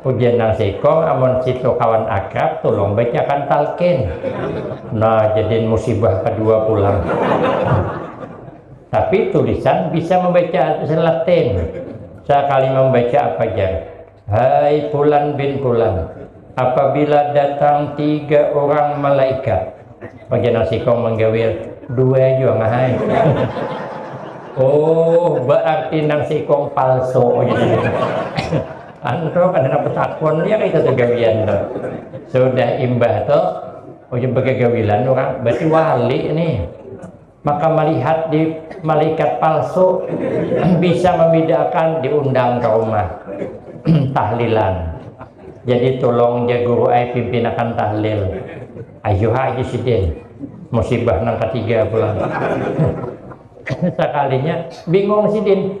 Ujar nang sikung, amun situ kawan akrab, tulung bacakan talqin. Nah, jadian musibah kadua pulang. Tapi tulisan bisa mambaca tulisan Latin. Sakali mambaca apa jar? Hai fulan bin fulan, apabila datang tiga urang malaikat, Pakai nasi kong manggawil dua jua ngahai. oh, berarti nang sikong palsu gitu. Anto kan anak petakon ya kita tuh gawian tuh. Sudah imbah tuh ujung oh, pegagawilan orang berarti wali nih. Maka malihat di malaikat palsu bisa membedakan diundang ke rumah tahlilan. Jadi tulung ja guru ai pimpinakan tahlil. Ayuh ha haji sidin. Musibah nang ketiga pulang. Sakalinya bingung sidin.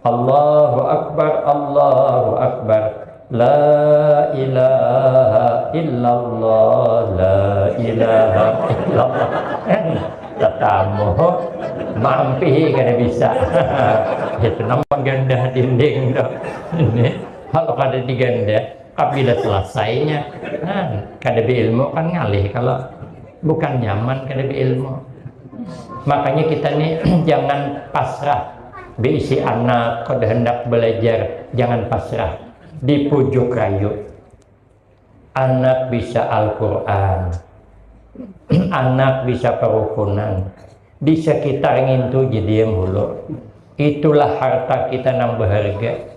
Allahu Akbar Allahu Akbar La ilaha illallah La ilaha illallah Tetamu Mampi kada bisa Itu nama gandah dinding tu Ini Kalau kada digandah Kabila selesainya nah, Kada berilmu kan ngalih Kalau bukan nyaman kada berilmu Makanya kita ni jangan pasrah Beisi anak kada handak balajar jangan pasrah di pujuk rayu. Anak bisa Al-Qur'an. Anak bisa parukunan. Di sakitar ngintu jadiam hulur. Itulah harta kita nang baharga.